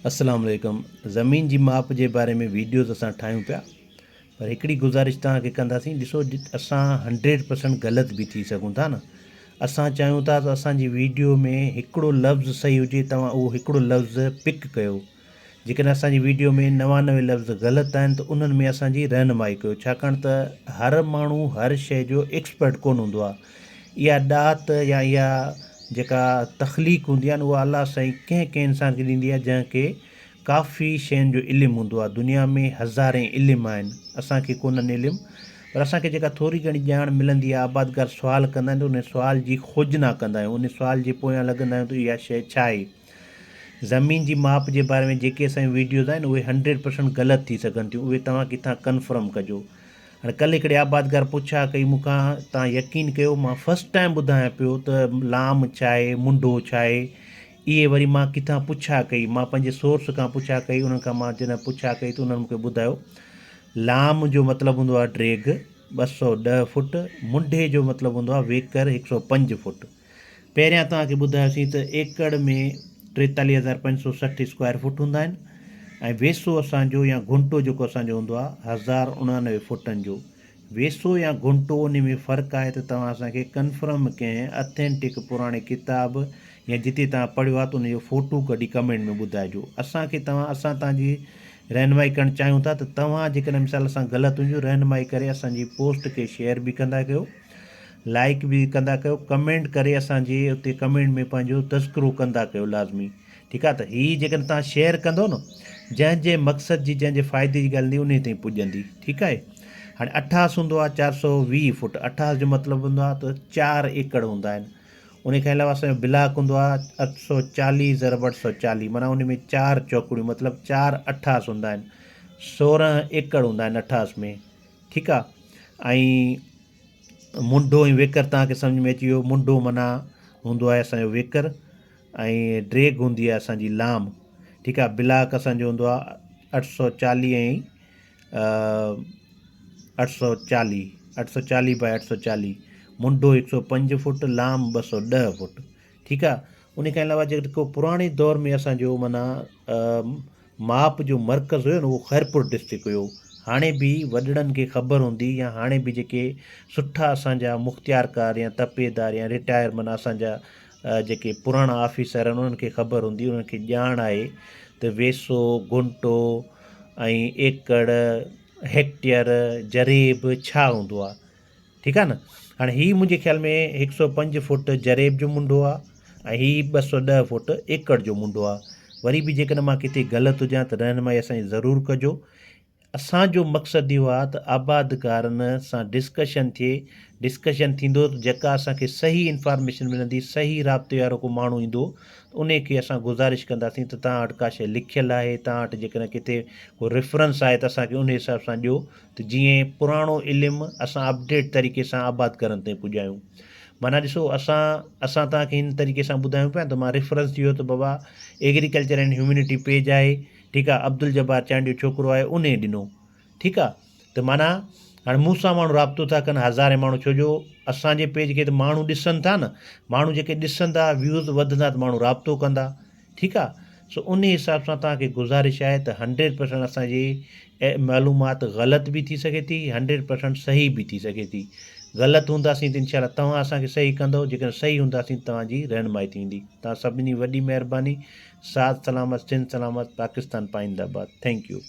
اسلام عليڪم زمين جي ماپ جي باري ۾ ويڊيوز اسان ٺاهيون پيا پر هڪڙي گذارش توهان کي ڪنداسين ڏسو اسان هنڊريڊ پرسنٽ غلط به ٿي سگهون ٿا نه اسان چاهيون ٿا ته اسان جي ويڊيو ۾ هڪڙو لفظ صحيح هجي توهان اهو هڪڙو لفظ پڪ ڪيو جيڪڏهن اسان جي ويڊيو ۾ نوانوي لفظ غلط آهن ته انهن ۾ اسان جي رهنمائي ڪيو ڇاڪاڻ ته هر ماڻهو هر شيء جو ايڪسپرٽ ڪونه هوندو آهي اها ڏات يا اها جيڪا تخليق هوندي آهي نه اها الله سائين ڪنهن ڪنهن انسان کي ڏيندي آهي جنهن کي ڪافي شين جو علم هوندو آهي دنيا ۾ هزارين علم آهن اسان کي ڪونهن علم پر اسان کي جيڪا ٿوري گهڻي ڄاڻ ملندي آهي آبادگار سوال ڪندا آهن ته ان سوال جي کوجنا ڪندا آهيون ان سوال جي پويان لڳندا آهيون ته اها شيء ڇا آهي زمين جي ماپ جي باري ۾ جيڪي اسان جون ويڊيوز آهن اهي هنڊريڊ پرسنٽ غلط ٿي سگهن ٿيون اهي توهان ڪٿان ڪنفرم ڪجو هاڻي ڪلهه هڪڙي آبادگار پڇا ڪئي مون کان تان يقين ڪيو مان فرسٽ ٽائم ٻڌايان پيو ته لام ڇاهي منڍو ڇاهي اهي وري مان ڪٿان پڇا ڪئي مان پنهنجي سورس کان پڇا ڪئي انهن کان مان جڏهن پڇا ڪئي ته انهن مون کي ٻڌايو لام جو مطلب هوندو آهي ڊريگ ٻه سؤ ڏهه فوٽ منڍي جو مطلب هوندو آهي ويڪر هڪ سؤ پنج فوٽ پهريان توهان کي ٻڌايوسين ته ايڪڙ ۾ ٽيتاليهه هزار پنج سؤ سٺ اسڪوائر فوٽ هوندا آهن ۽ ويسو اسان جو يا گهنٽو جيڪو اسان جو هوندو آهي هزار اڻانوي فوٽن جو ويسو يا گهنٽو انهي ۾ فرق آهي ته توهان اسان کي ڪنفرم ڪنهن اٿينٽڪ پراڻي ڪتاب يا جتي توهان پڙهيو آهي ته ان جو فوٽو ڪڍي ڪمينٽ ۾ ٻڌائجو اسان کي توهان اسان توهان جي رهنمائي ڪرڻ چاهيون ٿا ته توهان جيڪڏهن مثال اسان غلط هجون رهنمائي ڪري اسان جي پوسٽ کي شيئر به ڪندا ڪيو لائيڪ به ڪندا ڪيو ڪمينٽ ڪري اسان جي اتي ڪمينٽ ۾ پنهنجو تذڪرو ڪندا ڪيو لازمي ٺيڪ آ ته هي جيڪڏهن تهان شيئر ڪندو نه جنهن جي مقصد جي جنهن جي فائدي جي ڳالهه هوندي انهي تائين پڄندي ٺيڪ آهي هاڻي اٺاس هوندو آ چار سو ويهه فوٽ اٺاس جو مطلب هوندو آ ته چار ايڪڙ هوندا آهن انهي کان علاوه اسان جو بلاڪ هوندو آ اٺ سو چاليهه ضرب اٺ سو چاليهه معنيٰ انهي ۾ چار چوڪڙيون مطلب چار اٺاس هوندا آهن سورهن ايڪڙ هوندا آهن اٺاس ۾ ٺيڪ آ ۽ منڍو ۽ ويڪر توهان کي سمجهه ۾ اچي ويو منڍو معنيٰ هوندو آهي اسان جو ويڪر ۽ ڊريگ هوندي آهي اسان جي لام ٺيڪ آهي بلاڪ اسان جو هوندو آهي اٺ سو چاليهه ۽ اٺ سو چاليهه اٺ سو چاليهه بائي اٺ سو چاليهه منڍو هڪ سو پنج فوٽ لام ٻه سو ڏهه فوٽ ٺيڪ آ انهي کان علاوه جيڪو پراڻي دور ۾ اسان جو معنيٰ ماپ جو مرڪز هيو نه اهو خيرپور ڊسٽرڪ هيو هاڻي به وڏڙن کي خبر هوندي يا هاڻي به جيڪي سٺا اسان جا مختيار ڪار يا تپيدار يا رٽائر معنيٰ اسان جا جيڪي پراڻا آفيسر آهن انهن کي خبر هوندي انهن کي ڄاڻ آهي ته ويسو گهنٽو ۽ ايڪڙ هيڪٽيئر جريب ڇا هوندو آ ٺيڪ آ نه هاڻي هي منهنجي خيال ۾ هڪ سؤ پنج فوٽ جريب جو منڍو آ ۽ هي ٻه سؤ ڏهه فوٽ ايڪڙ جو منڍو آ وري به جيڪڏهن مان ڪٿي غلط هجان ته رهنمائي اسانجي ضرور ڪجو اسان جو مقصد اهو آ ته آبادگارن سان ڊسڪشن ٿئي ڊسڪشن ٿيندو ته جيڪا اسانکي صحيح انفارميشن ملندي صحيح رابطي وارو ڪو ماڻهو ايندو ته انهي کي اسان گذارش ڪنداسين ته توهان وٽ ڪا شيء لکيل آهي توهان وٽ جيڪڏهن ڪٿي ڪو ريفرنس آهي ته اسانکي انهي حساب سان ڏيو ته جيئن پراڻو علم اسان اپڊيٽ طريقي سان آباد ڪرڻ تائين پڄايون معنيٰ ڏسو اسان اسان توهان کي هن طريقي سان ٻڌايون پيا ته مان ريفرنس ڏيو ته بابا ايگريڪلچر اينڊ هيومينٽي پيج آهي ٺيڪ آهي عبدالجبار چانڊيو ڇوڪرو آهي ان ڏنو ٺيڪ آهي ته معنيٰ هاڻي مون سان ماڻهو رابطو ٿا ڪن هزارين ماڻهو ڇو جو اسانجي پيج کي ته ماڻهو ڏسن ٿا نه ماڻهو جيڪي ڏسندا ويوز وڌندا ته ماڻهو رابطو ڪندا ٺيڪ آ سو انهي حساب سان توهان کي گذارش آهي ته هنڊريڊ پرسنٽ اسان جي معلومات غلط به ٿي سگهي ٿي هنڊريڊ پرسنٽ صحيح به ٿي سگهي ٿي غلط هونداسين ته انشاء الله توهان اسان کي صحيح ڪندو جيڪڏهن صحيح هونداسين ته توهان جي رهنمائي ٿيندي توهان سڀني وڏي مهرباني ساٿ سلامت سنڌ سلامت پاڪستان پائنده آباد ٿينڪ يو.